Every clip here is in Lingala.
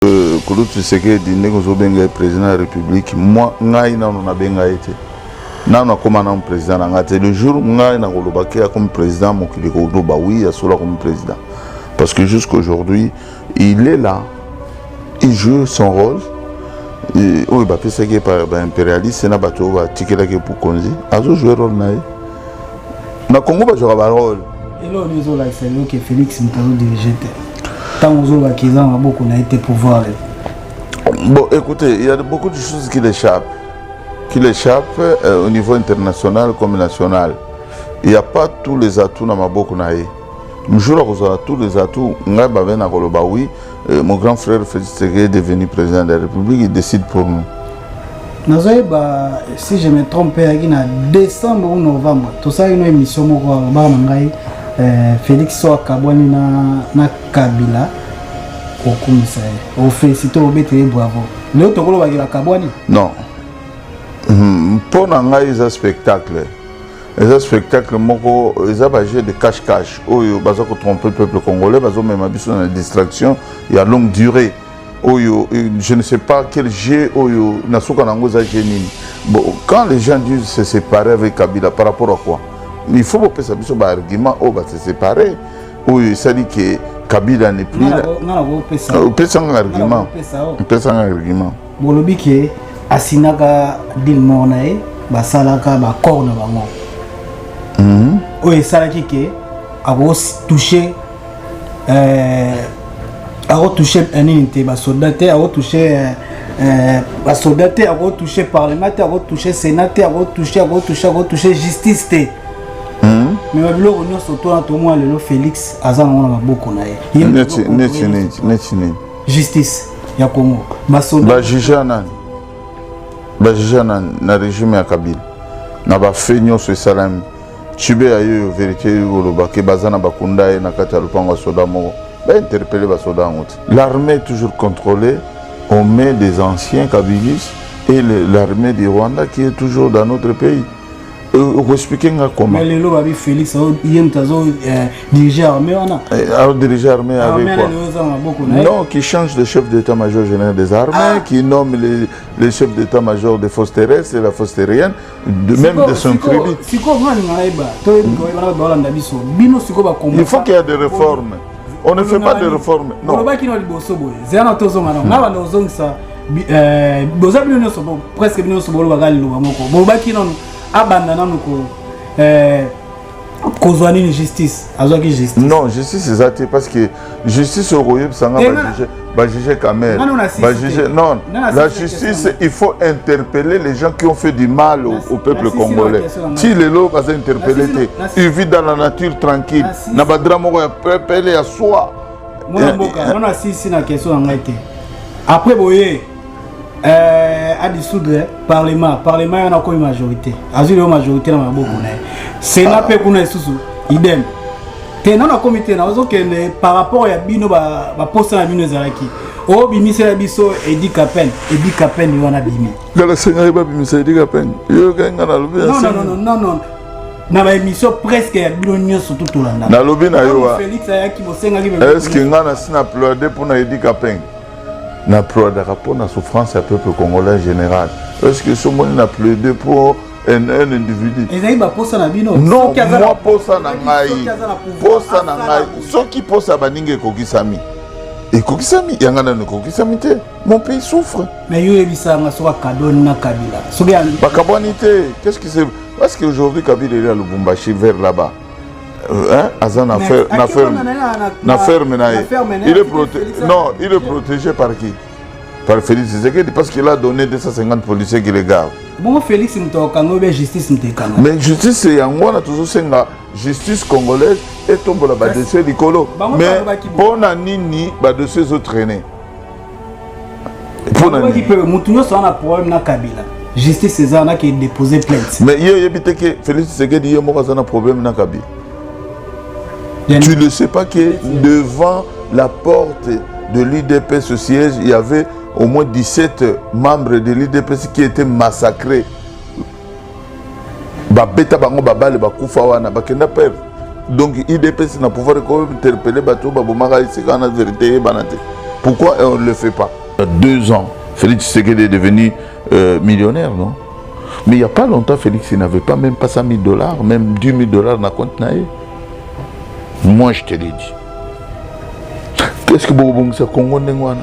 Euh, Kolo Tshisekedi ndenge ozobenga ye président ya république moi ngai nano nabenga ye te nano akoma nano président na ngai te le jour ngai nakoloba ke akomi président mokili ekoloba oui ya solo akomi président parce que jusqu'aujourd'hui il est là il joue son rôle oyo bapesaki ye par baimpérialiste na bato oyo batikelaki ye bokonzi azojoue rôle na ye na congo bazwaka barôle eloo ezolakisa yo ke félix moto azodirige te ntango ozoloba kiza na maboko na ye te pouvoir bon écoutez il y a beaucoup de choses qui l'échappent qui l'échappent euh, au niveau international comme national il n'y a pas tous les atouts na maboko na ye mjour akozala tous les atouts ngai babe nakoloba oui euh, mon grand frère félix tseke est devenu président de la république il décide pour nous nazoyeba si je me trompe eyaki na décembre ou novembre tosalaki no émission moko alobaka na ngai eh, félix so akabwani na, na kabila okumisa ye ofelisite obete ye bravo leo tokolobakela kabwani non hmm, mpo na ngai eza spectacle eza spectacle moko eza bajeu de cache cache oyo baza kotrompe peuple congolais bazomema biso na distraction ya longue durée oyo euh, je ne sais pas quel jeu oyo na suka na yango eza jeu nini bon quand les gens disent se séparer avec kabila par rapport à quoi il faut bopesa biso baargument oyo ba se séparer oyo esali ke kabila ne plus opesa nga argument opesa nga argument bolobi ke asinaka dil mor na ye basalaka bacor na bango mhm. oyo esalaki ke akotouche euh, akotouche euh, nini te basoda te akotouche euh, euh, basoda te akotouche parlement te akotouche sénat te akotouche akotouche akotouche justice te hmm? me babiloko nyonso tona tomona lelo félix aza nango na maboko na ye neti nini justice ya congo basoda bajuge ya nani bajuge ya nani na régime ya kabila na bafe nyonso esalami Chube ya yoyo verite yo koloba ke baza na bakunda ye na kati ya lopango ya soda moko ba interpelle ba soda yango te. L'armée toujours contrôlée on met des anciens kabilis et l'armée du Rwanda qui est toujours dans notre pays. Euh, okoexplike nga comment lelo babi félix ye moto azo euh, dirige armée wana eh, alors dirige armée avec quoi non qui change de chef d'état major général des armées ah. qui nomme les, les chefs d'état major des forces terrestres et la force terrienne de même de son crédit. Il faut qu'il y ait des réformes. On ne fait pas de réformes. Non. Euh, boza bino nyonso presque bino nyonso bolobaka liloba moko bolobaki nano abanda nano ko euh, kozwa nini justice azwaki justice non justice eza te parce que justice oyo koyebisa nga bajuge bajuge kamer bajuge non la justice il faut interpeller les gens qui ont fait du mal au, au peuple congolais ti lelo baza interpelle te il vit dans la nature tranquille na badra moko ya pepele ya soi mwana mboka nano asisi na question na ngai te après boye euh, à dissoudre hein. parlement parlement wana akomi majorité azwi lelo majorité na maboko na ye sena mpe kuna lisusu idem te nano akomi te nazokende par rapport ya bino baposa na bino ezalaki obimisela biso edi kapene edi kapene wana bimi ngala senga ye babimisa edi kapene yoyokai nga nalobi non na baémission presque ya bino nyonso to tolanda nalobi na yo eske nga nasi na pleude mpo na edi kapenge na ploadaka mpo na souffrance ya peuple congolais en général est ce que somoni na plaide mpo un, un individu ezali baposa na bino non mwa posa na ngai posa na ngai soki posa ya baninga ekokisami ekokisami yanga nano ekokisami te mon pays souffre mais yo oyebisanga soki akadoni na kabila soki bakabwani te qu'est ce qui se parce que aujourd'hui kabila eli ya lubumbashi vers là-bas Hein? Aza na ferme na ferme na ferme na il est protégé non il est protégé par qui par Félix Tshisekedi parce qu'il a donné 250 policiers qui les gardent bongo Félix moto akanga obe justice moto ekanga mais justice yango wana tozosenga justice congolaise etombola badossier likolo mais mpo na nini badossier ezotraine mutu nyonso wana problème na kabila justice eza wana ke dépose plainte mais ye oyebi te ke félix tshisekedi ye moko aza na problème na kabila tu ne sais pas que devant la porte de l'udps au siège il y avait au moins 17 membres de l'udps qui étaient massacrés babeta bango babale bakufa wana bakenda peve donc idps na pouvoir ekointerpele bato babomaka esika wana verité eyebana te pourquoi on le fait pas deux ans félix tshisekedi est devenu euh, millionnaire non mais il n'y a pas longtemps félix il n'avait pas même pas 100 000 dollars même 10 000 dollars na compte na ye moi je te l'ai dit qu'est ce que bokobongisa congo ndenge wana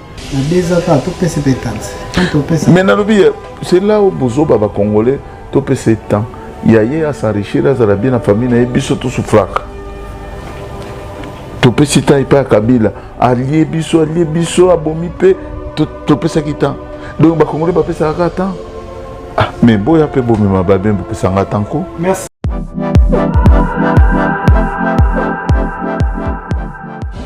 mais nalobi c'est là où bozoba bacongolais topesa temps ya ye asenrichir azala bien na famille na ye biso tosufraka topesi temps epai ya kabila alie biso alie biso abomi mpe topesaki temps donc bacongolais bapesaka kaka temps ah, mais boya mpe bomema babe bopesanga temps ko merci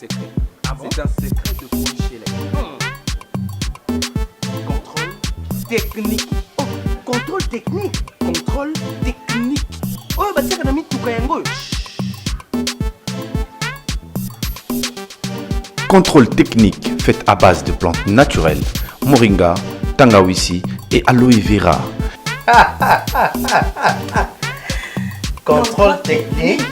technique oh, contrôle technique contrôle technique oyo batiaka na mituka yango oyo Contrôle technique fait à base de plantes naturelles, moringa, tangawisi et aloe vera. Contrôle technique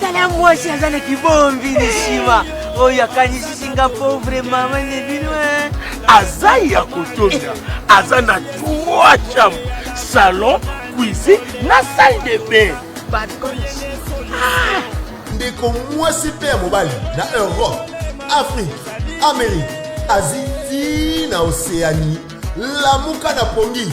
tala mwasi aza na kibombi ni nsima oyo akanisisi nga pauvre mama nde bino eh. aza ya kotonia aza na trois chambre salon cuisine na salle de bain ah! ndeko mwasi mpe ya mobali na europe afrique amérique asie ti na oceanie lamuka na pongi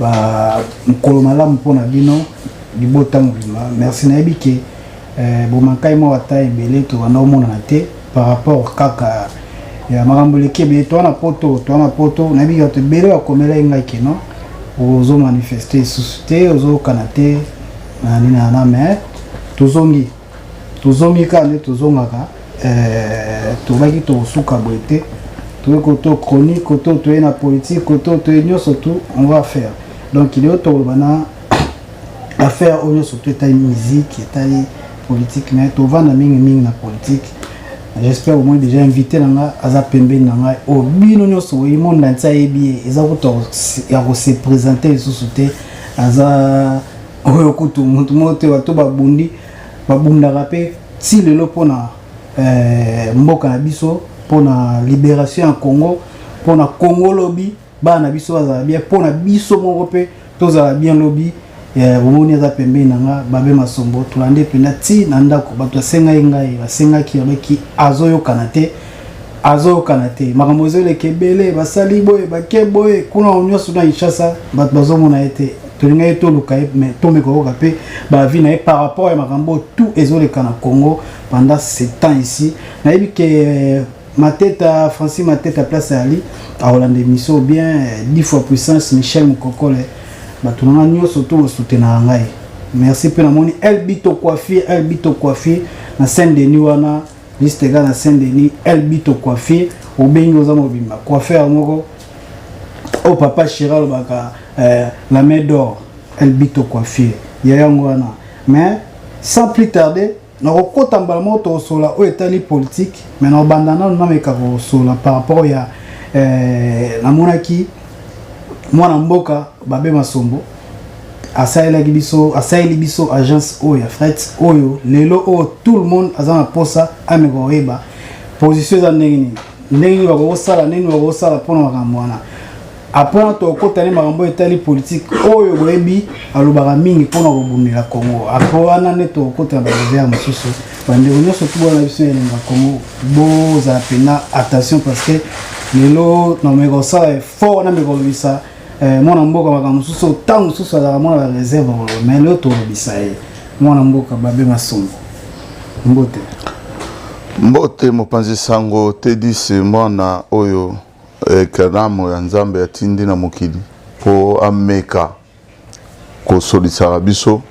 ba mokolo malamu mpo na bino libota mobimba merci nayebi ke eh, bomankai mwa wata ebele tobanda omonana te par rapport kaka ya makambo eleki ebele toa na poto toa na poto nayebi ke bato ebele bakomela ye ngai keno ozomanifeste lisusu te ozokana te na nini na na me tozongi tozomi kaka nde tozongaka eh, tobaki tokosuka boye te toye koto chronique koto toye na politique koto toye nyonso tout on va faire donc leo tokoloba na affaire oyo nyonso to etali musique etali politique mais tovanda mingi mingi na politique j'espère au moins déjà invité na ngai aza pembeni na ngai oyo oh, bino nyonso oyi monde na nti ayebi ye eza kuta ya kosepresente lisusu te aza oyo kutu motu moko te bato babundi babundaka mpe ti lelo mpona eh, mboka na biso mpona liberation ya congo mpona congo lobi bana na biso bazala bien mpona biso moko mpe tozala bien lobi eh, omoni aza pembeni na nga babe masombo tolande mpenza ti na ndako bato basengaki ngai basengaki babaki azoyokana te azoyokana te makambo ezoleka ebele basali boye bake boye kuna nyonso na kinshasa bato bazomona ye te tolinga ye toluka ye mais tomeka koyoka mpe bavi na ye par rapport ya makambo tout ezoleka na congo pendant sept ans ici nayebi ke euh, mateta francis mateta place ali akolanda émission bien euh, dix fois puissance michel mokokole bato na ngai nyonso to bosutenaka ngai merci mpe namoni elbito coiffure elbito coiffure na saint denis wana liste ega na saint denis elbito coiffure obengi oza mobimba coiffeur moko oh papa chira alobaka euh, la main d'or elle bito coiffure ya yango wana mais sans plus tarder nakokota mbala moko tokosola oyo etali politike mais nakobanda nano nameka kosola par rapport ya euh, namonaki mwana mboka babe masombo asalelaki biso asaleli biso agence oyo ya fret oyo lelo oyo tout le monde aza na mposa ameka koyeba position eza ndenge nini ndenge nini bakoki kosala ndenge nini bakoki kosala mpo na makambo wana apres na tokokota ne makambo etali politike oyo boyebi alobaka mingi mpo na kobundela congo apres wana nde tokokota na barever mosusu bandeko nyonso tubana na biso ya elinga congo bozala mpena attention parce que lelo nameka kosala effort nameka kolobisa Eh, mwana mboka makambo mosusu ntango mosusu azalaka mwana ba reserve koloba mai leo tolobisa ye mwana mboka babe masongo mbote mbote mopanzi sango tedis mwana oyo ekalamo eh, ya nzambe atindi na mokili mpo ameka kosolisaka biso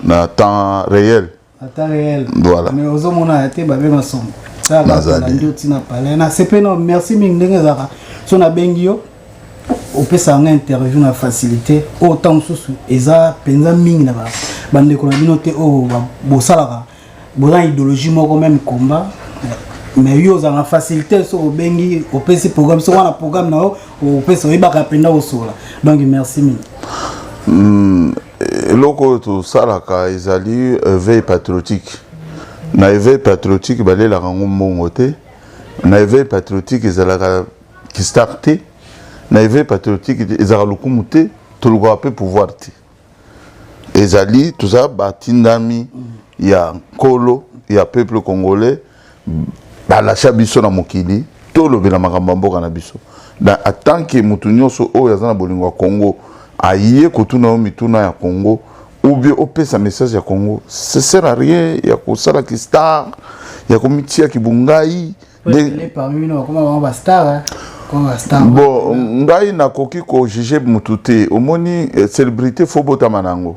na temps réel ata réel voilà mais ozo mona ya te ba benga songo ça ba la ndio tina pale na c'est pas non merci mingi ndenge zaka so na bengi yo opesa yanga interview na facilité oyo ntango mosusu eza mpenza mingi na bandeko na bino te oyo oh, bosalaka boza idéologie moko meme combat mais yo ozanga facilité soki obengi opesi programme soki wana programme na yo opesa oyebaka mpenza osola donc merci mingi hmm. eloko oyo tosalaka ezali éveil patriotique na éveil patriotique balelaka yango mbongo te na éveil patriotique ezalaka kistar te na éveil patriotique ezalaka lokumu te tolukaka mpe pouvoir te ezali toza batindami ya nkolo ya peuple congolais balasha biso na mokili tolobela makambo ya mboka na biso na atanke motu nyonso oyo aza na bolingo ya congo aye kotuna yo mituna ya congo ou bien opesa message ya congo ce sert à rien ya kosala kistar ya komitia kibungai bon ngai nakoki kojuge motu te omoni eh, célébrité fo botama na yango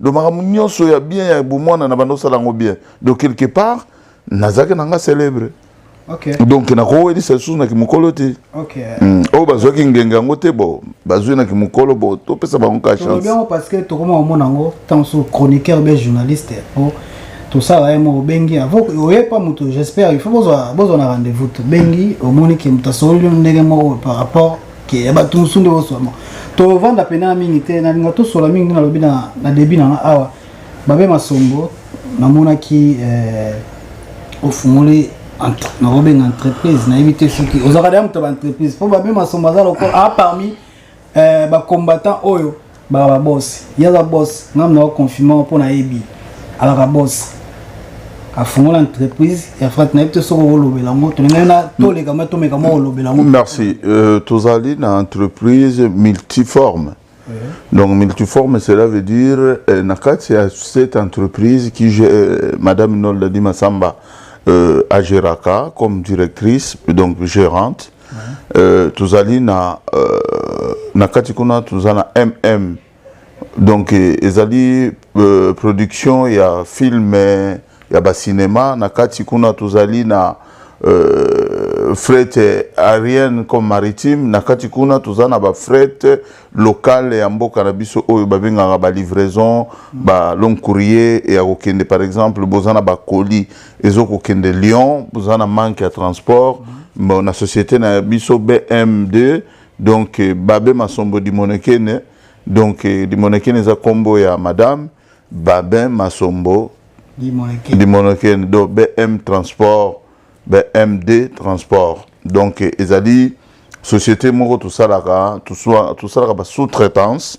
donc makambo nyonso ya bien ya bomwana na banda osala yango bien donc quelque part nazalaki na nga célèbre okay. donc nakowelisa lisusu na kimokolo te okay. mm. oyo oh, bazwaki ngenge yango te bo bazwi na kimokolo bo topesa bango ka chanceyango parce que tokoma komona yango ntango so chroniqueur be journaliste po tosala ye moko obengi oye pa moto j'espère il faut bozwa na rendez-vous tobengi omoni ke moto asololi ndenge moko par rapport ke ya bato mosusu nde oso yango tovanda mpena mingi te nalinga tosola mingi nde nalobi na debi na nga awa babe masombo namonaki eh, ofungoli nakobenga entreprise nayebi te soki ozalaka deya moto ya baentreprise mpo babe masombo aza lokola a ah, parmi eh, bacombattant oyo baka ba boss ye aza boss nga mna ko confirmer mpo nayebi alaka boss afungola entreprise ya frat nayebi te soki okolobela yango tolingani na toleka ma tomeka mwa kolobela yango merci euh, tozali na entreprise multiforme Donc multiforme, cela veut dire euh, Nakati a cette entreprise qui euh, Madame Nolda Dimasamba euh, Ageraka comme directrice, donc gérante. euh, tozali na euh, na kati kuna toza na mm donc euh, ezali euh, production ya film euh, ya bacinema na kati kuna tozali na euh, fret aérienne comme maritime na kati kuna toza na bafret locale ya mboka na biso oyo babengaka balivraison ba long courrier ya kokende par exemple boza na bacolis ezo kokende Lyon boza na manque ya transport mm. bon, na société na biso BM2 donc eh, babe masombo dimonekene donc eh, dimonekene eza kombo ya madame babe masombo dimonekene donc BM transport BMD transport donc eh, ezali société moko tosalaka tosalaka ba sous-traitance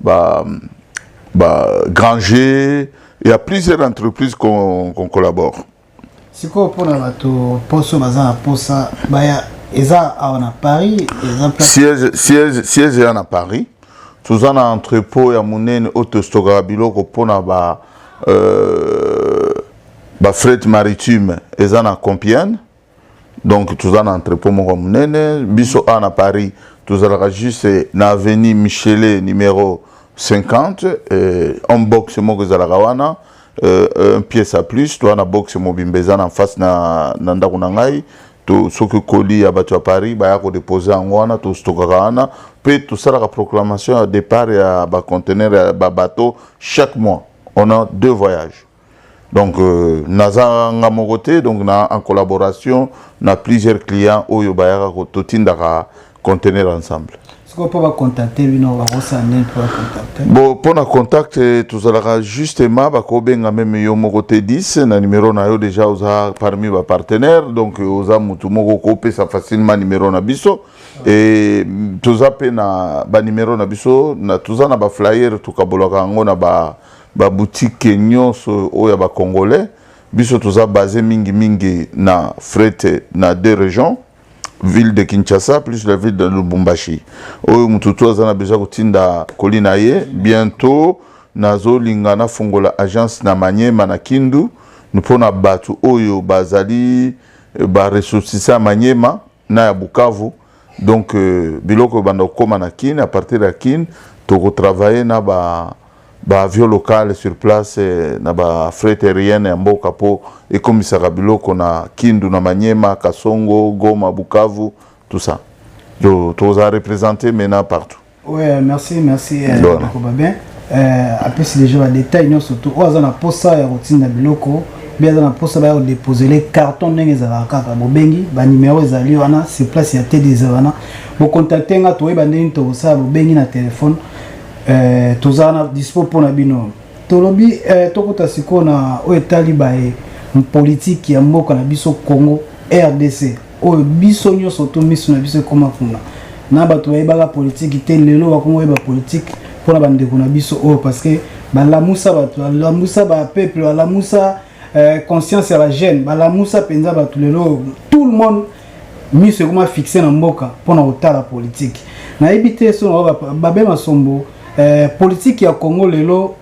Bah, bah, Granger, il y a plusieurs entreprises qu'on qu collabore. sikoyo mpona bato poso baza na posa baya eza awa na paris eza siège, siège, siège eza na paris toza na entrepôt ya monene oyo tostokaka biloko mpona ba euh, bafret maritime eza na compiane donc toza na entrepot moko monene biso awa na paris tozalaka juste na avenue michele numero 50 euh, en boxe moko ezalaka wana euh, euh, un pièce à plus toza na boxe mobimba eza na face na, na ndako na ngai to soki koli ya bato ya paris baya kodepose yango wana tostokaka wana mpe tosalaka proclamation ya départ ya bacontenaire ya babateau chaque mois on a deux voyages donc euh, naza nga moko te donc na en collaboration na plusieurs clients oyo bayaka totindaka conteneur ensemble sikoyo mpo bacontacte bino bakosala nini mpo bacontacte bo mpo na contact eh, tozalaka justement bakobenga meme yo moko te 10 na numero na yo déjà oza parmi bapartenaire donc eh, oza motu moko kopesa facilement numero na biso ah. e toza mpe na banumero na biso toza na baflyer tokabolaka yango na ba Ba boutiques nionso oyo ya ba congolais biso toza base mingi mingi na fret na deux regions ville de Kinshasa plus la ville de Lubumbashi oyo mutu to aza na besoin kotinda colis na ye bientôt nazolinga nafungola agence na Maniema na Kindu mpo na bato oyo bazali baressortissants ya Maniema na ya Bukavu donc euh, biloko ebanda kokoma na Kin à partir ya Kin tokotravaille na ba baavion locale sur place euh, na bafret aérienne ya mboka mpo ekomisaka biloko na Kindu na Maniema Kasongo Goma Bukavu tout ça tokozala représente maintenant partout Ouais, merci, merci, euh, Ndona. Ndeko Babin. Euh, apesi deja badetail nyonso tu oyo aza na mposa ya kotinda biloko mpe aza na mposa baya kodepozele carton ndenge ezalaka kaka bobengi banimero ezali wana sur place ya tedi eza wana bokontakte nga toyeba ndenge nini tokosala bobengi na telefone euh, toza na dispo mpo na bino tolobi euh, tokota sikoyo na oyo etali baye politike ya mboka na biso congo rdc oyo biso nyonso to miso na biso ekoma kuna na bato bayebaka politiki te lelo bakoma oyeba politiki mpo na bandeko na biso oyo parce que balamusa bato balamusa bapeuple balamusa euh, conscience ya bajeune balamusa mpenza bato lelo tout le monde miso ekoma fixe na mboka mpo na kotala politiki nayebi te so na babe masombo euh, politiki ya congo lelo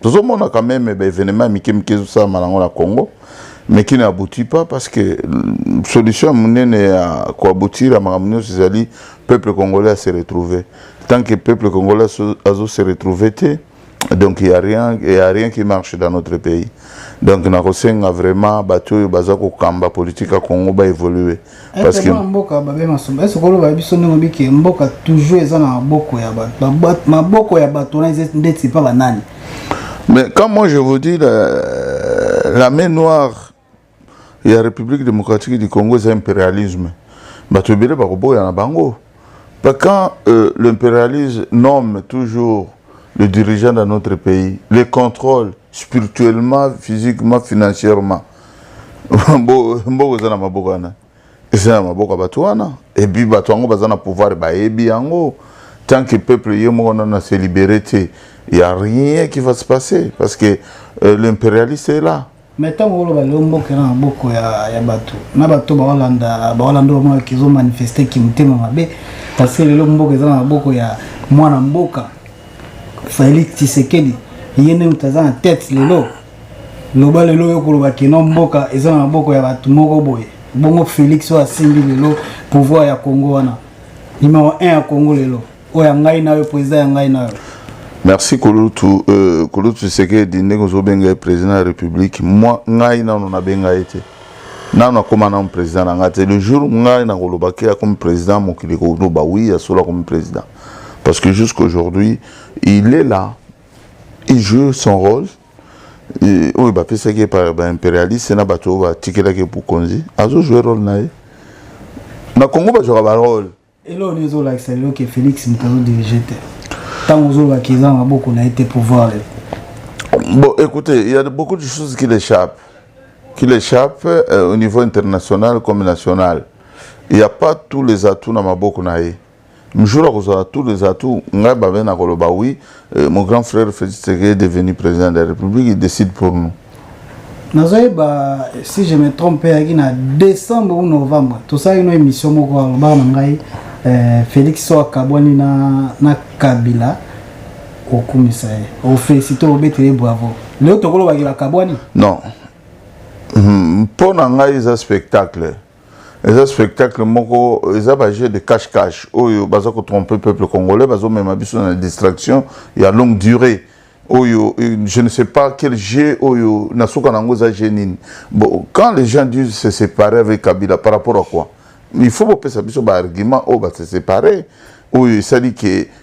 tozomona quand même ba événement ya mike mike ezosalama nango na congo mais qui n'aboutit pas parce que mm, solution monene ya koabutira makambo nyonso ezali peuple congolais ase retrouver tant que peuple congolais azo se retrouver te donc il y a rien il y a rien qui marche dans notre pays donc nakosenga vraiment bato oyo baza kokamba politique ya congo ba évoluer Eh, parce que mboka babe masomba est-ce que oloba biso ndenge obi ke mboka toujours eza na maboko ya bato maboko ya bato wana eza ndeti epa banani mais quand moi je vous dis la, la main noire ya république démocratique du congo eza impérialisme bato ebele bakoboya na bango pa quand euh, l'impérialisme nomme toujours le dirigeant dans notre pays les contrôle spirituellement physiquement financièrement mboka eza na maboko wana eza na maboko ya bato wana epuis bato yango baza na pouvoir bayebi yango tant que peuple ye moko nano ase libere te ya rien qui va se passer parce que euh, l'impérialiste est là mais ntango oloba leo mboka eza na maboko ya, ya bato na bato baolanda baolanda bamona kizo manifeste kimotema mabe parce que lelo mboka eza na maboko ya mwana mboka felix tshisekedi ye nde moto aza na tete lelo loba lelo oyo koloba keno mboka eza na maboko ya bato moko boye bongo félix oyo asimbi lelo pouvoir ya congo wana numero 1 ya congo lelo oyo ya ngai na yo président ya ngai na yo merci kulutu euh, kulutu sekedi ndenge ozobenga ye président ya république mwa ngai nano nabenga ye te nano akóma nano président na ngai te le jour ngai nakoloba ke akomi président mokili koloba wi ya solo akomi président parce que jusqu'aujourd'hui il est là il joue son rôle oyo bapesaki ye par baimperialiste na bato oyo batikelaki bokonzi azojoue role na ye na congo bazwaka barole eloo nini ezolakisa lelo ke félix moto azodirige te ntango ozolobaki eza na maboko na ye te pouvoir lelo bon écoutez il y a beaucoup de choses qui l'échappe qui l'échappe euh, au niveau international comme national il n'y a pas tous les atouts na maboko na ye Mjura kozala tout les atouts ngai babe na koloba oui euh, mon grand frère Félix Tshisekedi est devenu président de la République il décide pour nous nazoyeba si je me trompe ayaki na décembre ou novembre tosalaki no émission moko alobaka na ngai euh, Félix so akabwani na, na Kabila okumisa ye ofélicite obetele bravo leo tokolobakela kabwani non mpo hmm, na ngai eza spectacle eza spectacle moko eza ba jeu de cache cache oyo baza ko tromper peuple congolais bazo mema biso na distraction ya longue durée oyo euh, je ne sais pas quel jeu oyo na suka nango eza jeu nini bon quand les gens disent se séparer avec Kabila par rapport à quoi il faut bopesa biso ba argument oyo ba se séparer oyo esali que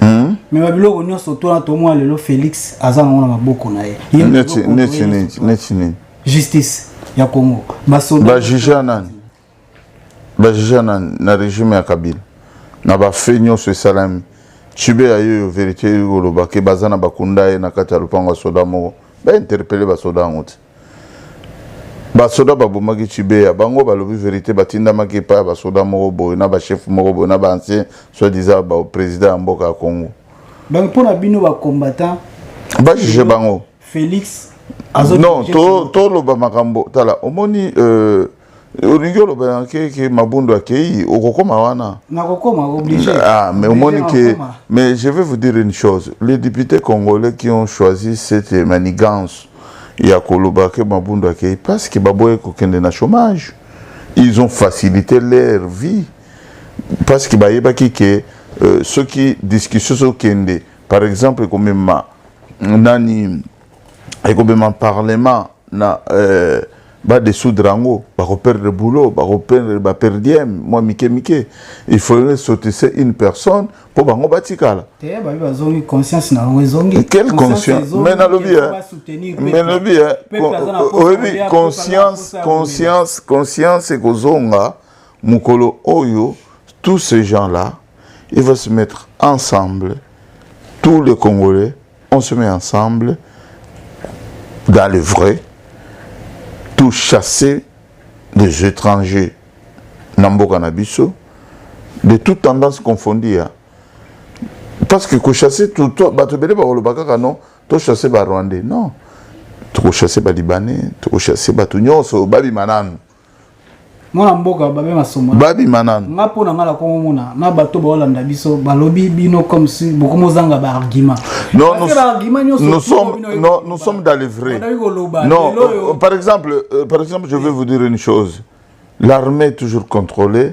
Hmm? me babiloko nyonso tona tomona lelo félix aza nango na maboko na ye justice ya congo basolbajugea nani bajugea nani na régime ya kabila na bafe nyonso esalami cibe ya yoyo verité ekolobake baza na bakunda ye na kati ya lopango ya soda moko bainterpele basoda yango te basoda babomaki chibeya bango balobi verite batindamaki epai ya basoda moko boye na bachef moko boye na baancien soit disant baprésident ya mboka ya congo donc mpo na bino bacombattant bajuge bango félix non toloba makambo tala omoni euh, olingi oloba na ke ke mabundo akei okokoma wana nakokoma obligé ah mais omoni ke mais je vais vous dire une chose les députés congolais qui ont choisi cette manigance ya koloba ke mabundo akei parce que baboye kokende na chômage ils ont facilité leur vie parce que bayebaki ke euh, soki discussion sokende par exemple ekomema nani ekobema parlement na euh, badesoudre yango bakoperdre boulot bakoperdre baperdiem mwa mike mike il faudrait sotise une personne mpo bango batikala quelle conscience me nalobi me nalobi oyebi conscience conscience conscience ekozonga mokolo oyo tous ces gens là il faut se mettre ensemble tous les congolais on se met ensemble dans le vrai tout chasser des étrangers na mboka na biso de toute tendance confondue hein. parce que kochasse bato ebele bakoloba kaka non tochasse barwandais non tokochasse balibanais tokochasse bato nyonso babima nanu mwana mboka babe masombo babima nanu nga mpo na nga na kongo mona na bato baolanda biso balobi bino comme si bokomozanga baargument non nous, argument nous, nous sommes non, nous sommes dans le vrai non euh, par exemple euh, par exemple je vais vous dire une chose l'armée est toujours contrôlée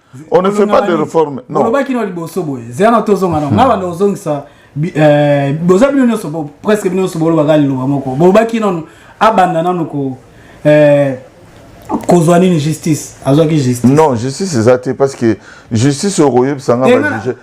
on ne fait pas de réforme non olobaki na liboso boye zela na tozonga na nga banda ozongisa eh, boza bino nyonso presque bino nyonso bolobaka liloba moko bolobaki nano abanda nano ko eh, kozwa nini justice azwaki justice non justice eza te parce que justice okoyebisa nga bajuge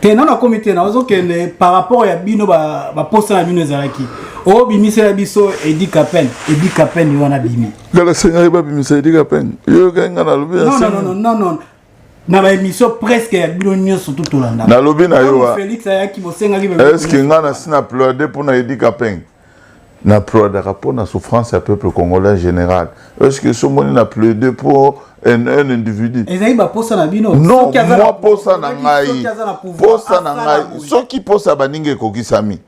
te nano akomi te nazokende par rapport ya bino baposa na bino ezalaki obimisela biso edi kapene edi kapene wana bimi kala senyaki babimisa edi kapene yoyokai ngai nalobi non na baémission presque ya bino nyonso tu tolanda nalobi na yo eske ngai nasi na pleude mpo na edi kapenge na prodaka mpo na souffrance ya peuple congolais général est ce que somoni na plaide mpo un, un individu ezali baposa na bino non mwa posa na ngai posa na ngai soki posa ya baninga ekokisami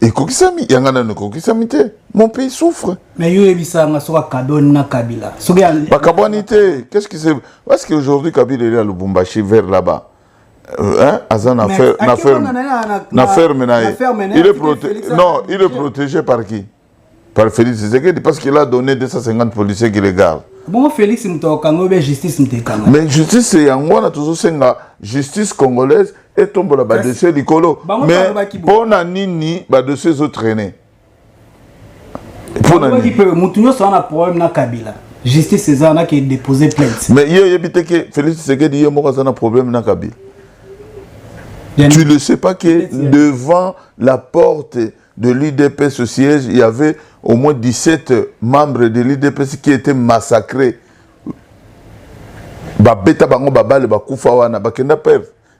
ekokisami yanga nano ekokisami te mon pays souffre mais yo oyebisanga soki akabwani na kabila soki bakabwani te qu'est ce qui se parce que aujourd'hui kabila eli ya lubumbashi vers là-bas Hein? Aza na ferme na ferme na ferme na ye. Il est protégé non, il est protégé par qui? Par Félix Tshisekedi parce qu'il a donné 250 policiers qui le gardent. Bon Félix moto akanga obe justice moto ekanga. Mais justice yango wana tozosenga justice congolaise etombola ba dossier likolo. Mais mpo na nini ba dossier ezotraîner? ponani mpe motu nyonso wana problème na kabila justice eza wana ke dépose plainte mais ye oyebi te ke félix tshisekedi ye moko aza na problème na kabila tu ne sais pas que devant la porte de l'udps au siège il y avait au moins 17 membres de l'udps qui étaient massacrés babeta bango babale bakufa wana bakenda peve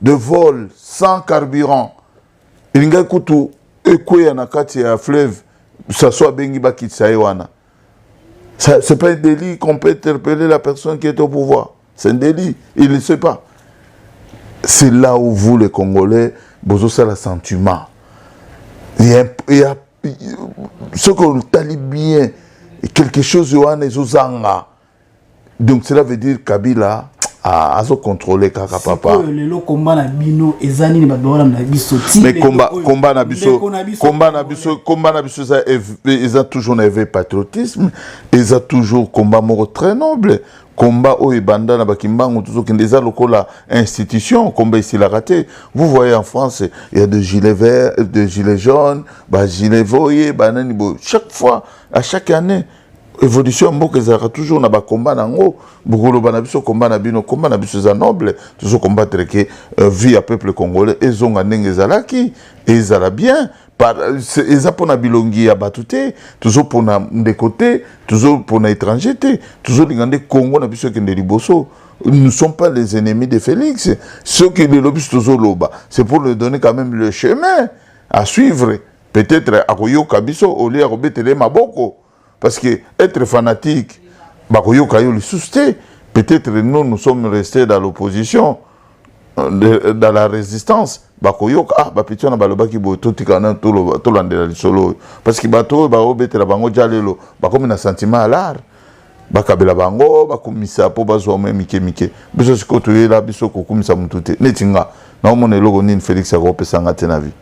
de vol sans carburant elingaki kutu ekweya na kati ya fleuve saso abengi bakitisa ye wana c'est pas un délit qu'on peut interpeller la personne qui est au pouvoir c'est un délit il ne sait pas c'est là où vous les congolais bozosala sentiment il y a, il y a soki otali bien quelque chose wana ezozanga donc cela veut dire kabila ah, azo contrôler kaka papa oyo lelo komba na bino eza nini bato bakolanda na biso mais komba komba na biso komba na biso komba na biso eza eza toujours na éveil patriotisme eza toujours combat moko très noble combat oyo ebanda na bakimbangu tozokende eza lokola institution combat esilaka te vous voyez en france il y a de gilet vert de gilet jaune ba gilet voye banani boye chaque fois à chaque année evolution ya mboka ezalaka toujours na bakomba na yango bokoloba na biso komba na bino komba na biso eza noble tozo combattre ke euh, vie ya peuple congolais ezonga ndenge ezalaki ezala bien eza mpona bilongi ya bato te tozopona ndeko te tozopona étranger te tozolinga nde congo na biso ekende liboso nous sommes pas les ennemis de félix soki lelo biso tozoloba c'est pour le donner quand même le chemin à suivre peut-être akoyoka biso au lieu ya kobetela ye maboko parce que être fanatique bakoyoka yo lisusu te peut-être nous nous sommes restés dans l'opposition euh, dans la résistance bakoyoka ah bapeti wana balobaki boye totikana tolandela lisolo oyo parce que bato oyo baobetela bango ja lelo bakomi na sentiment ya lare bakabela bango bakumisa mpo bazwa mwa mike mike biso sikoyo toyela biso kokumisa motu te neti nga naomona eloko nini felix akopesa nga te na vie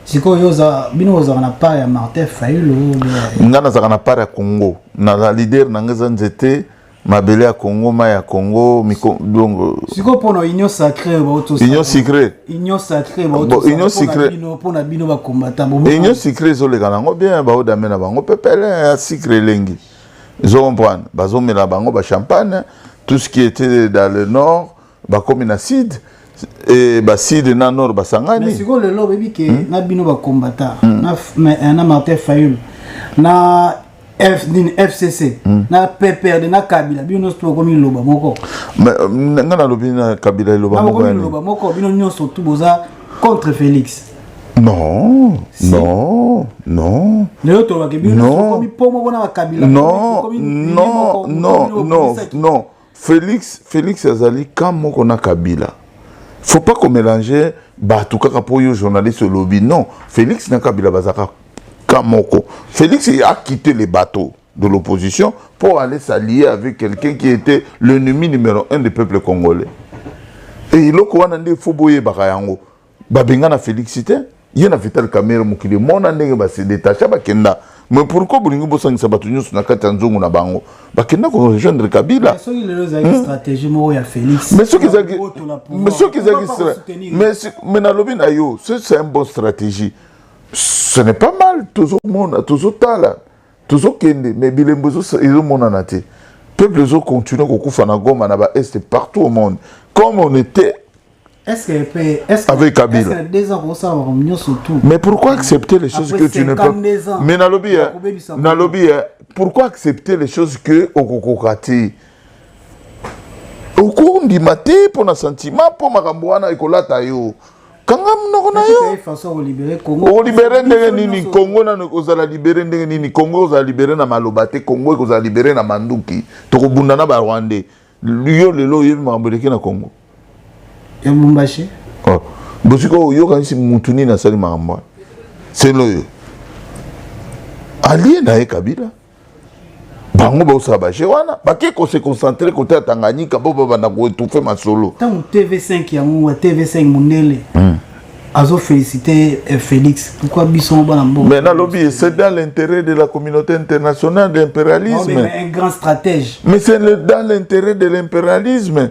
sikoyo bino ozalaka na part ya martin fayulu nga nazalaka na part ya congo na leader na nga eza nzete mabele ya congo mai ya congo donc sikoyo mpona union sacré union sacré union sacré union sacré mpona bino bacombattant union sacré ezoleka nango bien baodame na bango pepele ya sacré elengi Zo comprendre, bazo mela bango ba champagne, tout ce qui était dans le nord, bakomi na sud, et ba sud na nord basangani. Mais siko lelo bebi ke hmm? na bino ba combattant, hmm. na mais eh, na Martin Fayul, na F, nini, FCC hmm. na PPRD na Kabila bino nyonso tokomi loba moko. Mais euh, nga na lobi na Kabila loba moko. Na loba moko bino nyonso tout boza contre Felix. Non, si. non, non. Non, non, non, non, non, non. Félix, Félix Azali, quand moko na Kabila. Faut pas qu'on mélange bato kaka po yo journaliste lobby. Non, Félix na Kabila bazaka quand moko. Félix a quitté les bateaux. de l'opposition pour aller s'allier avec quelqu'un qui était l'ennemi numéro un du peuple congolais. Et il a dit Foboye Bakayango, Babengana Félix Ité, il a Vital Kamere Moukili, mon année, c'est détaché, Bakenda. Mais pourquoi bolingi bosangisa bato nyonso na kati ya nzongo na bango bakenda ko rejoindre kabila mais soki lelo ezalaki hmm? stratégie moko ya félix mais soki ezalaki mais soki ezalaki mais mais nalobi na yo c'est un bon stratégie ce n'est pas mal tozomona tozotala tozokende mais bilembo ezomonana te peuple ezocontinue kokufa na goma na baeste partout au monde comme on était avec Kabila. Mais pourquoi accepter les choses que tu ne peux Mais Nalobi, hein, Nalobi, hein, pourquoi accepter les choses que Okokokati okondima te mpo na sentiment mpo makambo wana ekolata yo kanga munoko na yo okolibere ndenge nini kongo nano ekozala libere ndenge nini kongo ekozala libere na maloba te kongo ekozala libere na manduki tokobunda na barwandais yo lelo oyebi makambo eleki na kongo ya lubumbashi oh. bosika oyokanisi mutu nini asali makambo wana selo oyo alie na ye kabila bango baosala baje wana bake kose concentre kote ya tanganyika mpo babanda koetouffe masolo ntango tv5 yango tv5 mondele hmm. azofélicité eh, félix pourquoi biso bana mbongo mais nalobi c'est dans l'intérêt de la communauté internationale de l'impérialisme un grand stratège mais c'est dans l'intérêt de l'impérialisme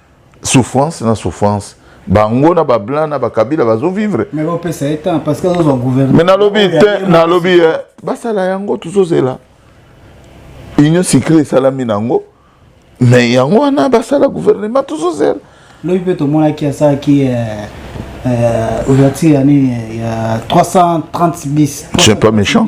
souffrance na souffrance bango na bablanc na bakabila bazovivre me nalobi te nalobi ye eh, basala yango tozozela union sicre esalami na yango me yango wana basala gouvernement tozozela lobi mpe tomonaki asalaki eh, eh, ouverture ya nini ya 330 bis c'est pas méchant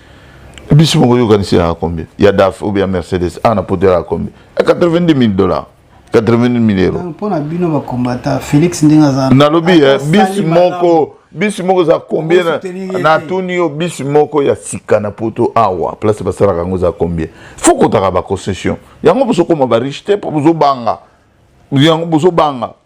bisi moko yokanisi yaka combien ya daf ou bien mercedes awa na poto yaka combien ya 90 000 dollars 80 000 euro mpo na bino bakombata felix ndenge aza nalobi eh, bisi moko bisi moko eza combien natuni yo bisi moko ya sika na poto awa place basalaka yango eza combien fo kotaka baconcession yango bozokoma bariche te mpo bozobanga yango bozobanga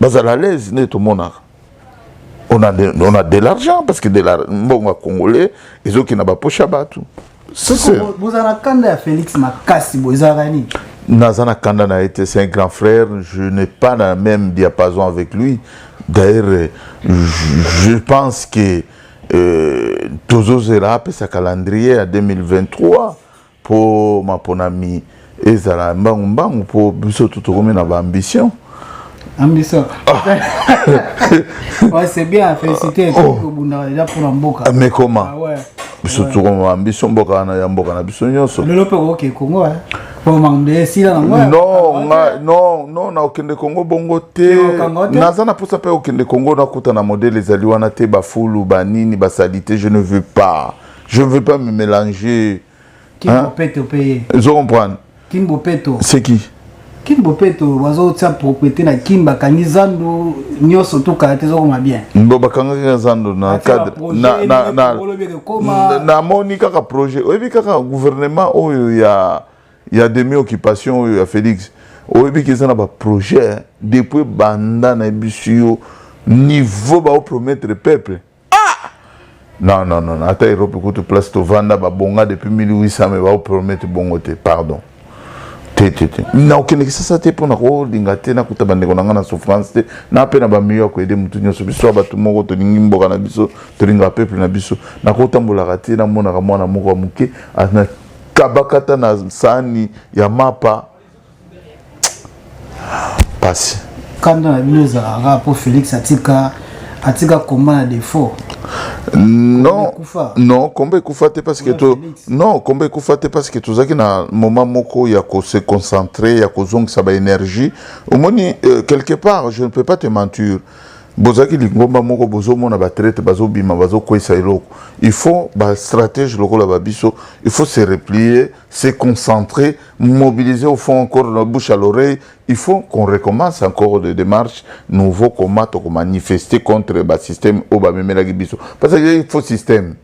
bazala alaise nde tomonaka on a, de, on a de l'argent parce que de la mbongo ya congolais ezoki na baposha bato bozala na kanda ya félix makasi boye ezalaka nini naza na kanda na ye te c'est un grand frère je n'ai pas na même diapason avec lui d'ailleurs je pense que euh, tozozela apesa calendrier ya 2023 Mpo maponami ezala mbangu mbangu, mpo biso tu tokomi na ba ambition ambition ouais, c'est bien félicité kobundaka oh. deja mpo na mboka ah, mais comment ah, ouais. biso tokoma ba ambition mboka wana ya mboka na biso nyonso lelo mpe okoke kongo non nakokende kongo bongo te naza na mposa mpe kokende kongo nakuta na modele ezali wana te bafulu banini basalite je ne veux pas Je ne veux pas me mélanger. King hein? Bopeto payé. Je comprends. King Bopeto. C'est qui King Bopeto, wazo tsa propriété na King bakangi zandu nyoso to karate zo koma bien. Mbo bakangi na zandu na cadre na na na na moni kaka projet. Oyebi kaka gouvernement oyo ya ya demi occupation oyo ya Félix. Oyebi kisa na ba projet hein. depuis banda na bisu yo niveau ba promettre peuple. ah non non non ata europe kutu place tovanda babonga depuis 1800 me baopromete bongo te pardon te te te nakokende kisasa te mpo na kolinga te nakuta bandeko na ngai na souffrance te na mpe na bamiyo ya koyede motu nyonso biso ya bato moko tolingi mboka na biso tolingaka peuple na biso nakotambolaka te namonaka mwana moko ya moke na kabakata na saani ya mapa pasi kanda na bino ezalaka mpo félix atika atika komba na défaut non non komba ekufa te parce que to non komba ekufa te parce que tozalaki na moment moko ya ko se concentrer ya kozongisa ba énergie omoni euh, quelque part je ne peux pas te mentir bozalaki lingomba moko bozomona batraite bazobima bazokwesa eloko il faut bastratège lokola babiso il faut se replier se concentrer, mobiliser au fond encore la bouche à l'oreille. Il faut qu'on recommence encore des démarches nouveau comment on manifester contre le système au bas même la biso. Parce que il faut système.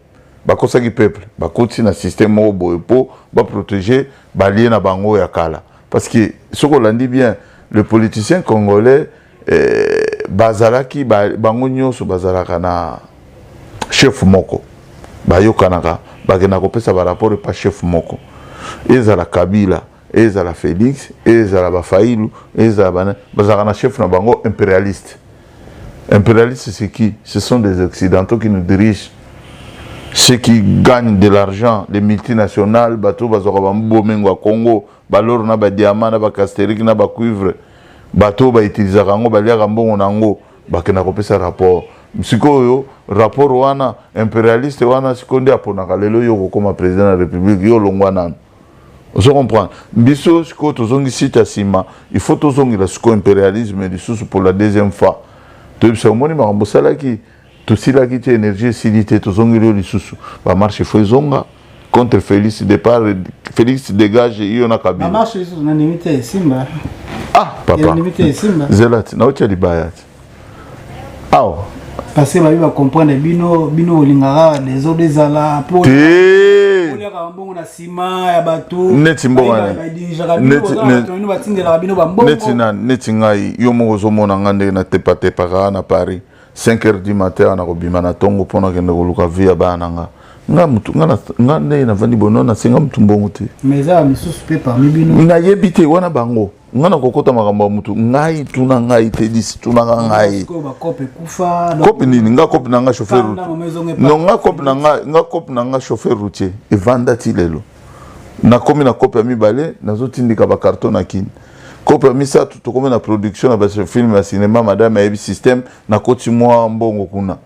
bakosaki peuple bakotisi na système moko boye mpo baprotege balie na bango ya kala parce que soki olandi bien le politicien congolais eh, bazalaki ba, bango nyonso bazalaka na chef moko bayokanaka bakenda kopesa baraport epa chef moko ezala kabila ezala félix ezala bafailu ezala bana bazalaka na chef na bango impérialiste impérialiste c'est qui ce sont des occidentaux qui nous dirigent ceux qui gagnent de l'argent les multinationales bato bazwaka bambomengo ya congo ba loro na ba diamant na ba casterique na ba cuivre bato oyo bautilisaka yango baliaka mbongo na yango bakenda kopesa rapport sikoyo rapport wana imperialiste wana sikoyo nde aponaka lelo yo okokoma president ya republique yo olongwa nanu ozo comprendre biso sikoyo tozongi site ya nsima il faut tozongela sikoyo imperialisme lisusu pour la deuxième fois toyebisa omoni makambo osalaki Tosilaki te energie esili te tozongeli yo lisusu ba marche faut ezonga contre Felix départ Felix dégage yo na Kabila. Ba marche lisusu na ndimi te esimba. Ah papa. Ndimi te esimba. Zelati na otia libaya. Awa. Parce que babi ba comprendre bino bino olingaka des autres ezala po. Te. neti mbonganeti ngai yo moko ozomona ngai ndenge natepatepaka na paris 5 heures du matin wana kobima na tongo mpo nakende koluka vie ya bana na nga nga mutu nga nga ndenge navandi boye nona senga mutu mbongo te mais eza ba misusu pe parmi bino nayebi te wana bango nga nakokota makambo ya mutu ngai tuna ngai te disi tunaka ngai kope nini nga kope na nga chauffeur no nga kope na nga nga kope na nga chauffeur routier evanda ti lelo nakomi na kope ya mibale nazotindika bakarton na kini kope ya misato tokomi na production na bafilme ya cinema madame ayebi systeme nakoti mwa mbongo kuna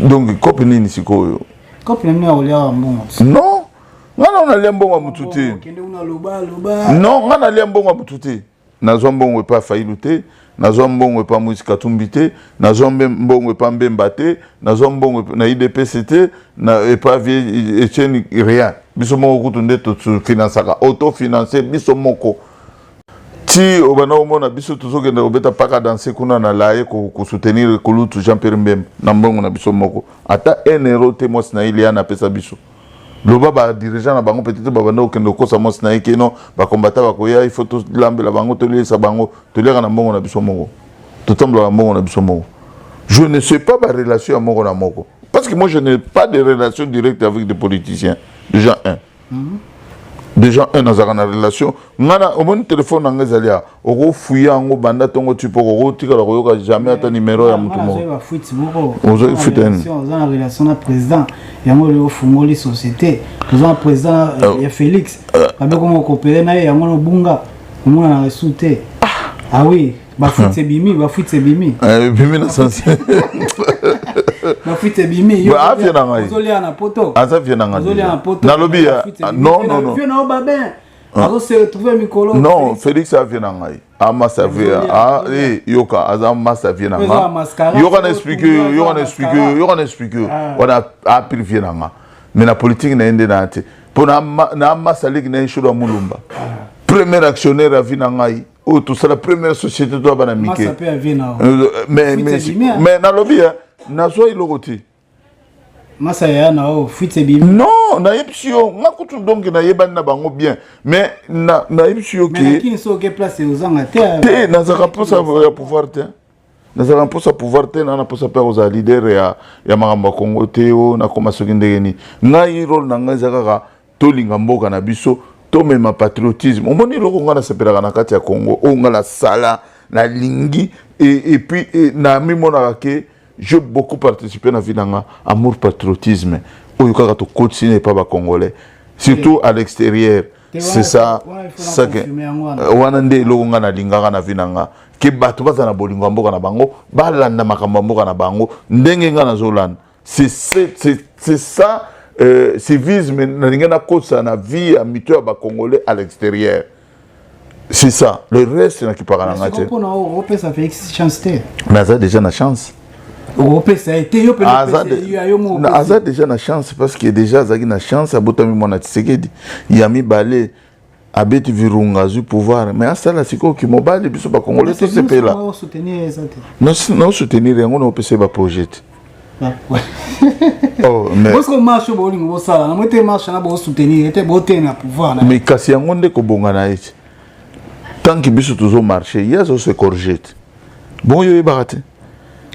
donc kope nini sikoyo kope na nini akolia mbongo non nga na nalia mbongo ya motu te non nga nalia mbongo ya motu te Nazwa mbongo epa Fayilu te, nazwa mbongo epa Moise Katumbi te, nazwa mbongo epa Mbemba te, nazwa mbongo na IDPC te, na epa vie Etienne rien. Biso moko kutu nde to financaka, auto financer biso moko. Ti obanda omona biso tozokende kobeta paka danse kuna na laye kosoutenir kulutu Jean Pierre Mbemba na mbongo na biso moko. Ata 1 euro te mwasi na Iliana apesa biso. loba ba dirigeant na bango peut-être babanda kokende kokosa mwasi na ye keno bakombata bakoya il faut tolambela bango toliesa bango toliaka na mbongo na biso moko totambolaka mbongo na biso moko je ne sais pas barelation ya moko na moko parce que moi je n'ai pas de relation directe avec des politiciens déjà un mm -hmm. déjà un nazalaka na relation ngana omoni telefone na nga ezali awa okofuya yango banda ntongo ti mpo okotikala koyoka jamais ata nimero ya motu mokoozwaki fuite nini oza na relation na président yango lelo ofungoli société oza na président euh, ya félix euh. babe koma okopele na ye yango nobunga omonana esu te ah oui bafuite ebimi bafuite ebimi eh, ebimi na sense bafuite ebimi afie na ngai ozolia na poto aza vie na ngai nalobi ya non non non Ah. azo se retrouver mikolo non félix avie na ngai amasa ah, vie ah, eh, yoka aza masa vie na ngai yoka na explique yo yoka na explique yo yoka na explique yo wana apil vie na ngai mais na politique na ye nde na te mpo na amasa leki na ye sholo ya mulumba premier actionnaire ya vie na ngai oyo tosala première société to abana mike euh, mais nalobi nazwa eloko te masa ya na o fuite ebimi non nayebisi yo nga kutu donc nayebani na bango bien mais nayebisi yo te nazalaka mposa ya pouvoir te nazalaka mposa pouvoir te na naposa mpe kozala leader ya, ya makambo ya kongo te o nakoma soki ndenge nini ngai role na ngai eza kaka tolinga mboka na biso tomema patriotisme omoni eloko ngai nasepelaka na kati ya congo oyo ngai nasala nalingi epuis e, namimonaka ke je beaucoup participe na vie na nga amour patriotisme oyo kaka tokotisi na epa bacongolais surtout à l'extérieur c'est ça euh, wana nde eloko ngai nalingaka na vie na nga ke bato bazala na bolingo ya mboka na bango balanda makambo ya mboka na bango ndenge ngai nazolanda c'est c'est ça euh, civisme nalingi nakotisa na vie ya mito ya bacongolais à l'extérieur c'est ça le reste nakipaka na ngai te opesa félix chance te mais aza déjà na chance okopesa ye te yo mpe aza déjà na chance parce que déjà azalaki na chance abotami mwana tisekedi ya mibale abeti virunga azwi pouvoir mais asala sikoyo kimobali biso bakongole tosepela naosoutenir yango naopesa ye baprojet te oh, mais kasi yango nde kobonga na ye te tant que biso tozo marche ye azo se corriger te bongo yo oyebaka te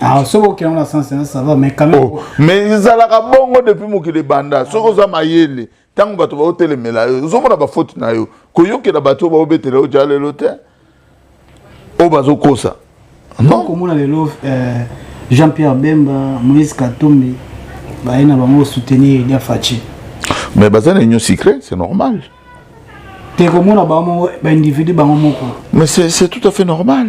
Ah, soki okenda na sens ena ça va mais quand même oh, mais ezalaka bongo depuis mokili ebanda soki oza mayele ntango bato baotelemela yo ozomona bafoti na yo koyokela bato oyo baobetela yo jalelo te oyo bazokosa komona lelo eh, jean pierre bemba moïse katumbi baye na bango soutenir elia faci mais baza na union secret c'est normal te komona bango baindividu bango moko mais c'est tout à fait normal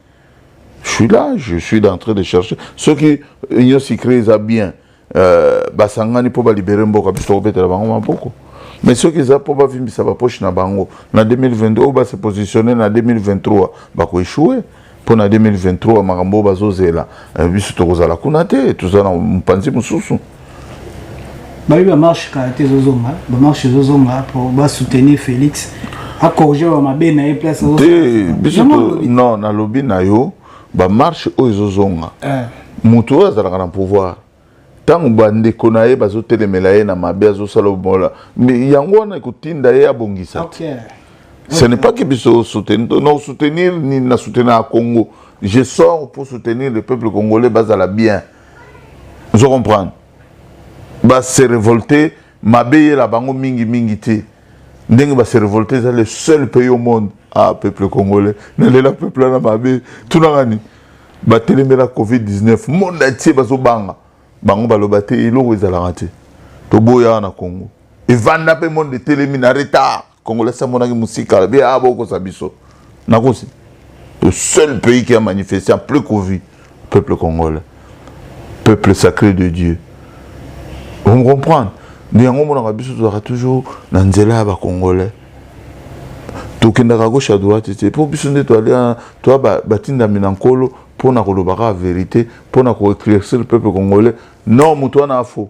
Je suis là, je suis en train de chercher. Ceux qui union secret eza bien. Euh, basangani mpo balibere mboka biso tokobetela bango maboko mais soki eza mpo bavimbisa bapoche na bango na 2022 oyo base positionne na 2023 bakoeshue mpo na 2023 makambo oyo bazozela eh, biso tokozala kuna te toza na mopanzi mosusu bayebi bamarche kala te ezozonga bamarche ezozonga po basoutenir félix acorrige ba mabe na ye place te biso non nalobi na yo bamarche oyo ezozonga eh. moto oyo azalaka na pouvoir ntango bandeko na ye bazotelemela ye na mabe azosala obola yango wana ekotinda ye abongisa te ce n'est pas que biso soutenir non soutenir ni na soutenir ya congo je sors pour soutenir le peuple congolais bazala bien ozo comprendre ba se révolter mabe yela bango mingi mingi te ndenge ba se révolter eza le seul pays au monde ah peuple congolais nalela peuple wana mabe tunaka nini batelemela covid 19 monde atie bazobanga bango baloba te eloko ezalaka te toboya na congo evanda mpe monde etelemi na retard Congolais amonaki musika alobi ah bokosa biso nakosi le seul pays qui a manifesté en plus covid peuple congolais peuple sacré de Dieu vous me comprenez nde yango omonaka biso tozalaka toujours na nzela ya bacongolais tokendaka gauche ya droite te mpo biso nde toalia toa batindami na nkolo mpo na kolobaka verité mpo na koeclaircir peuple congolais non moto wana afo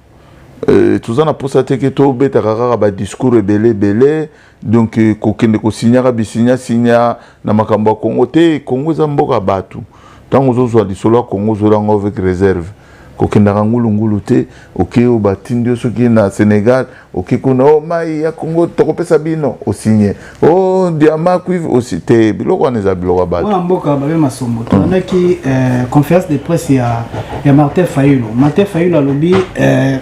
Euh, toza na mposa te ke tobetaka kaka badiscours ebele ebele donc euh, kokende kosinyaka bisinya sinya na makambo ya kongo te kongo eza mboka ya bato ntango ozozwa lisolo ya kongo ozwela yango avec réserve kokendaka ngulungulu te oke oyo batindi yo soki na sénégal oke kuna o oh, mai ya kongo tokopesa bino osinye Oh, diamant, cuivre aussi, te biloko wana eza biloko ya bato. Wana mboka babe masombo. Tolandaki euh, conférence de presse ya ya Martin Fayulu. Martin Fayulu alobi euh,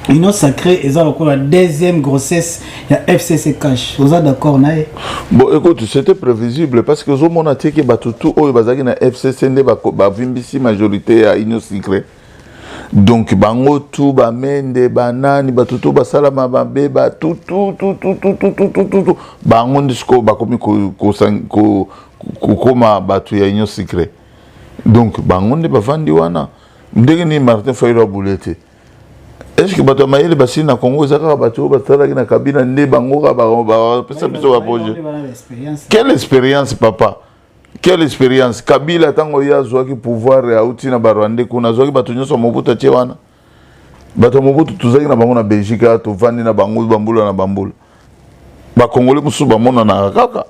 union sacrée eza lokola deuxième grossesse ya fcc cash oza d'accord na ye bon écoute c'était prévisible parce que ozomona te ke bato tu oyo bazalaki na fcc nde bavimbisi majorité ya union sacrée donc bango tu bamende banani bato to basalama mabe batutututututututu bango nde sikoyo bakomi kokoma bato ya union secret donc bango nde bavandi wana ndenge nini martin fayilo abule te estce bato ya mayele basili na congo eza kaka bato oyo basalaki na kabila nde bango kaka bapesa biso baprojet quelle expérience papa Quelle experience Kabila tango ye azwaki pouvoir auti na barwandais kuna azwaki bato nyonso Mobutu atie wana bato ya Mobutu tozalaki na bango na Belgique awa tovandi na bango bambula na bambula bakongole mosusu bamonanaka kaka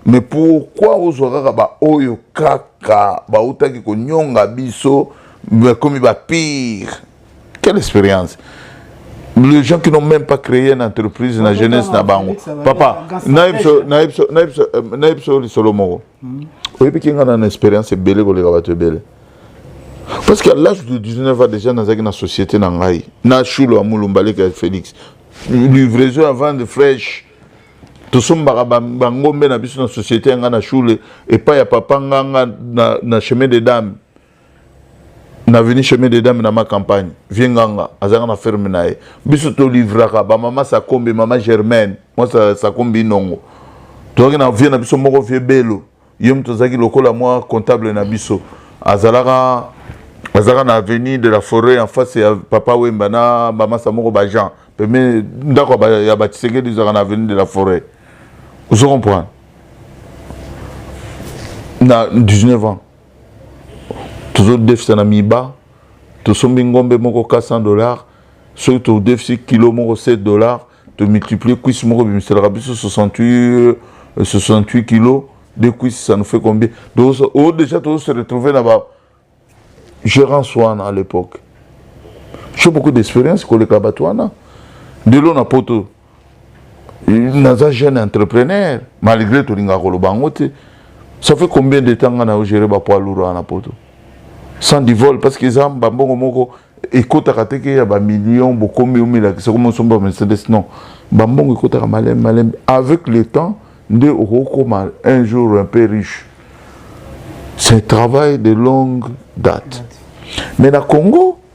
mais pourquoi ozwa kaka baoyo kaka bautaki konyonga biso bakomi ba pire Quelle expérience les gens qui n'ont même pas créé une entreprise na jeunesse na bango papa nayebi so nayebi so nayebi so euh, nayebi so lisolo moko hmm. oyebi ki nga na na expérience ebele koleka bato ebele parce que à l'âge de 19 ans déjà nazalaki na société na ngai na shulo ya mulumba leka ya félix livraison ya vande fraîche tosombaka bangombe na biso na société ya ngai na shule epai ya papa nganga na, na chemin de dame na veni chemin des dames na ma campagne vie nganga azalaka na ferme na ye biso tolivraka bamama sakombi mama germaine mwa sakombi inongo tozalaki na vie na biso moko vie belo ye moto azalaki lokola mwa comptable na biso azalaka azalaka na avenue de la forêt en face ya papa wemba na bamasa moko bajean peme ndako ya batisekedi ezalaka na avenue de la forêt ozo comprendre na 19 ans tozodefisa na miba tosombi ngombe moko 400 dollars soki todefisi kilo moko 7 dollars tomultiplie cuisse moko bimiselaka biso 68, 68 kilos de cuisse ça nous fait combien donc oh, déjà tozo se retrouver na ba gérance wana à l'époque j'ai beaucoup d'expérience koleka bato wana ndelo na poto naza jeune entrepreneur malgré tolingaka koloba yango te ça fait combien de temps nga na yo gere bapoids lourd wana na poto sans du vol parce que eza bambongo moko ekotaka te ke ya bamillion bokomi omilakisa komi osomba mercedes non bambongo ekotaka maleme maleme avec le temps nde okokoma un jour un peu riche c'est un travail de longue date mais na congo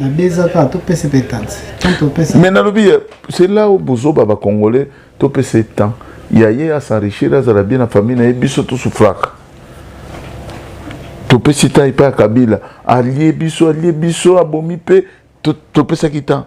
na deux ans kaka topesa mpe tansi tant topesa mais nalobi c'est là où bozoba bacongolais topesa ye temps ya ye asenrichir azala bien na famille na ye biso tosufraka topesi temps epai ya kabila alie biso alie biso abomi mpe topesaki temps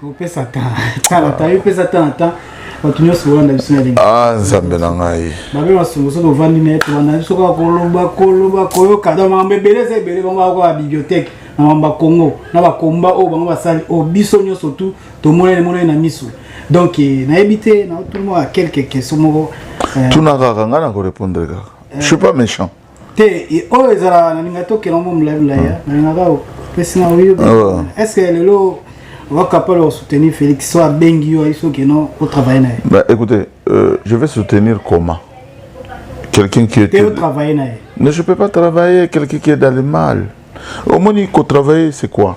topesa tala tayo pesa tala ta bato nyonso bolanda biso na elengi ah, nzambe na ngai babe masongo soki ovandi na ye tolanda biso kaka koloba koloba koyoka donc makambo ebele eza ebele bango bako ba bibliothèque na makambo ya congo na bakomba oyo bango basali oyo biso nyonso tu tomonani emonani na miso donc eh, nayebi te naotumoa quelque question moko eh. tuna kaka ngai nakorepondre kaka eh. je suis pas méchant te oyo ezala nalinga tokela yango molai molai nalingaka opesi na oyo est ce que lelo va capable de soutenir Félix soit bengi yo iso que non au travail naye bah écoutez euh, je vais soutenir comment quelqu'un qui était au travail naye mais je peux pas travailler quelqu'un qui est dans le mal au moins il faut travailler c'est quoi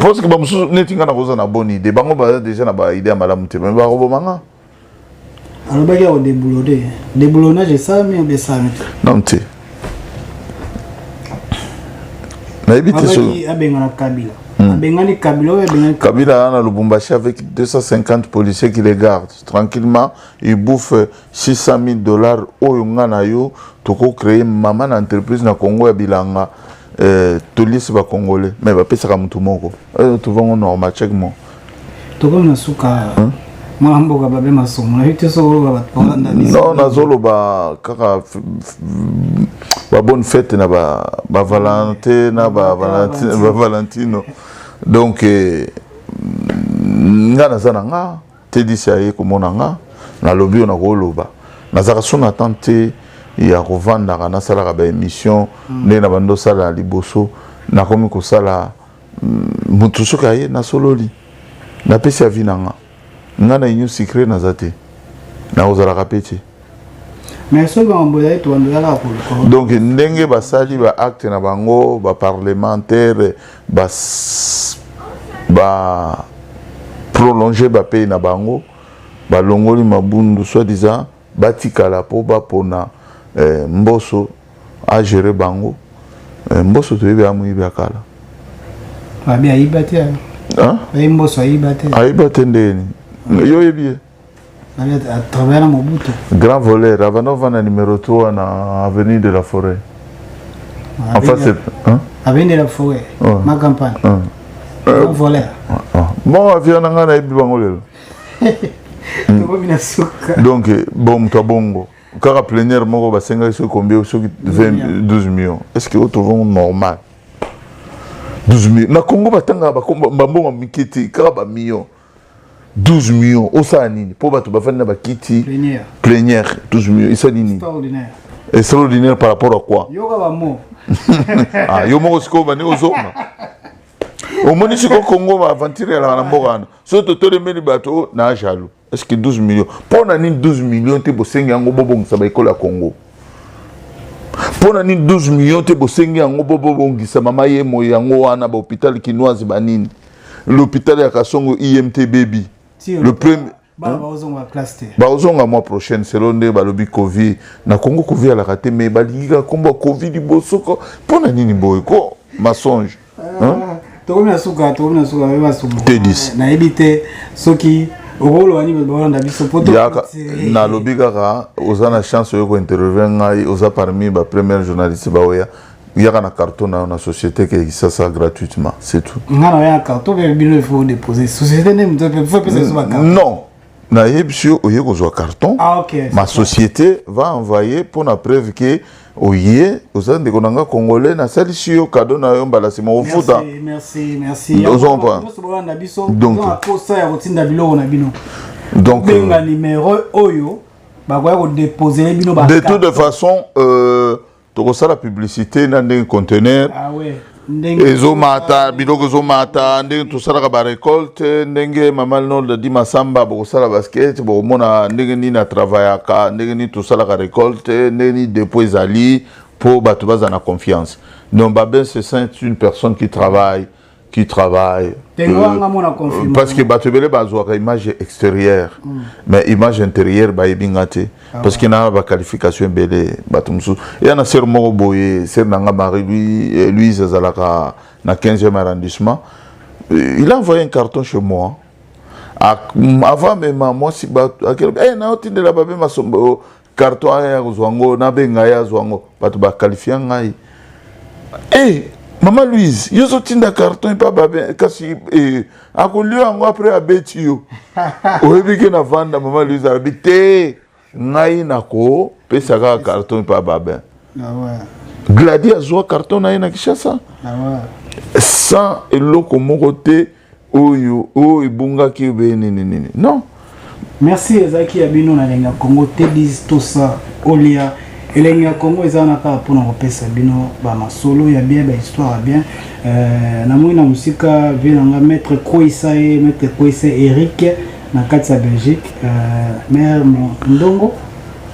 parce que bamosusu neti ngai nakoza na bonne idée bango baza déjà na baide ya malamu te me bakoboma nga alobaki ya kodeboulode deboulonnage esalami obe esalami te non te nayebi te soki abengana kabila hmm. abengani kabila oyo abengani kabila aza na lubumbashi avec 250 policiers qui les gardent tranquillement il bouffe 600.000 dollars oyo nga na yo toko créer maman na entreprise na Congo ya bilanga euh, toliesi ba congolais mais bapesaka motu moko euh, tovango normal check mo tokomi na suka hmm? mwana mboka babe masumu nayebi te soko bakolanda non nazoloba kaka babonne fete na bavalente na bavalentino donc eh, nga naza na nga Teddy si aye komona nga nalobi oyo nakoloba nazalaka so na temps te ya kovandaka nasalaka baémission mm. ndenge na bando osala liboso nakomi kosala mm, motu soki aye nasololi napesi avi na nga nga na union sucre naza te nakozalaka mpe te donc ndenge basali ba acte na bango ba parlementaire ba ba prolonger ba pays na bango balongoli mabundu soit disant batikala mpo bapona eh, mboso agere bango eh, mboso toyebi amoyibi ya kala ayiba te ndeni yo oyebi ye Grand voleur, Avanova na numéro 3 na avenue de la forêt. Ah, en face, hein? Avenue de la forêt, ouais. ma campagne. Ouais. Euh, Grand voleur. Ah, ah. Bon, avion nanga na yebi bango lelo. Tokomi na suka. Donc, eh, bon moto ya bongo. Kaka plénière moko basengaki soki combien soki 20 12 millions. Est-ce que otovongo normal? 12 millions. Na Congo batanga ba mbongo mike te, kaka ba millions. 12 millions osala nini mpo bato bafandi na bakiti plenière 12 millions esali nini extraordinaire par rapport à quoi ah, yo moko sikoyo bani ozonga omoni sikoyo kongo baaventure yalaka na mboka wana soki totolemeli bato oh, na jaloux est ce que 12 millions mpo na nini 12 millions te bosengi yango bobongisa baekolo ya congo mpo na nini 12 millions te bosengi yango bobongisa mama ye moyi yango wana bahopital kinoise banini L'hôpital ya Kasongo IMT baby. Le premier bakozonga mwa prochaine selo nde balobi covid na congo covid alaka te mai balingi kaka kombo ya covid liboso ko mpo na nini boye ko masonge ah, tokomi na suka tokomi na suka basuka nayebi te soki nalobi kaka oza na chance oyo kointervie ngai oza parmi bapremière journaliste baoya yaka na carton na yo na société ke kisasa gratuitement c'est tout nga na ya carton pe bino il faut déposer société ne mto pe faut pesa ba carton non na yebisi yo oye kozwa carton ah, okay, ma société ça. va envoyer mpo na preuve ke oye oza ndeko na nga congolais nasalisi yo kado na yo mbala nsima ofuta ozomprendre donc kosa ya kotinda biloko na bino donc benga euh, numero oyo bakoya kodepose bino de toute façon euh, tokosala publicité na ndenge conteneur ah ouais. ezomata biloko ezomata ndenge tosalaka barecolte ndenge mama linolda di masamba bokosala basket bokomona ndenge nini atravayaka ndenge nini tosalaka recolte ndenge nini depot ezali mpo bato bazala na confiance donc babin cessin est une personne qui travaille qui travaille. Euh, parce que bato ebele bazwaka image extérieure mm. mais image intérieure bayebi nga te ah parce que na baqualification ebele bato mosusu eya na sere moko boye sere na nga marie euh, louise azalaka na 15e arrondissement euh, il a envoyé un carton chez moi avant mema mwasi bato akelaki e eh, nayotindela babe masombo carton aya kozwa ngo nabenga ye azwa ngo bato bakalifia ngai hey, eh, mama louise yo ozotinda carton epa babe kasi eh, akolio yango apres abeti yo oyebi ke na vanda mama louise alobi te ngai nakopesa kaka carton epa babe ah gladi azwa carton na ye na kinshasa ah sans eloko moko te oyo oyo oh, ebungaki obe nini nini non merci ezalaki ya bino na elengi ya congo te dis tosa olia elengi ya congo eza wana kaka mpona kopesa bino bamasolo ya bien bahistoire ya bien euh, namoni na mosika vie na nga maître kweisa ye maître kweisa eric na kati ya belgique euh, maire ndongo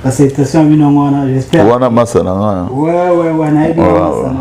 basalutations ya bino yango wana j'espère wana masa na nga wana yebi masana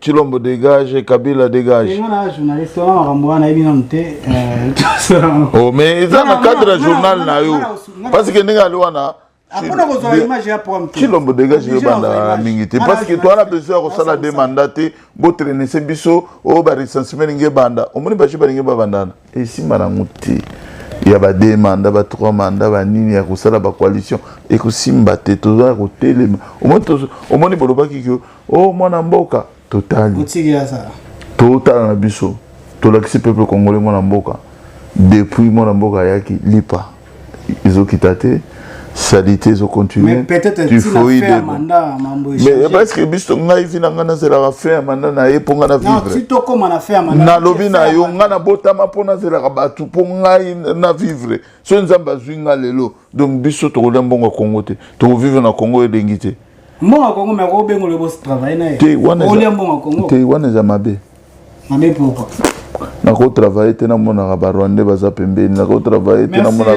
Chilombo dégage, Kabila dégage. Et on journaliste, on a ramboua na ebina mte. Oh mais ça na cadre journal na yo. Parce que ninga luana. Apona ko zoa image ya prom. Chilombo dégage yo banda mingi te parce que toi na besoin ko sala des mandats te, bo traîner biso, o ba recensement nge banda. Omoni ba chiba nge ba bandana. esimba nango te ya ba deux mandat ba trois mandat ba nini ya kosala ba coalition ekosimba te toza ya kotelema omoni bolobaki ke o oh, mwana mboka totali totala na biso tolakisi peuple congolais mwana mboka depuis mwana mboka ayaki lipa ezo kita te salite ezo continuer typhoïde mais parce que biso ngai vi na ngai nazelaka fin ya manda na ye mpo ngai na vivre nalobi na yo ngai nabotama mpo nazelaka bato mpo ngai na vivre soki nzambe azwi ngai lelo donc biso tokolia mbongo ya kongo te tokovivre na kongo elengi te mbongo ya kongo me akobengolo bosi travaille na ye te wana eza mabe Mame pourquoi? nako travaille te namonaka barwandais baza pembeni nako travaille te namonaka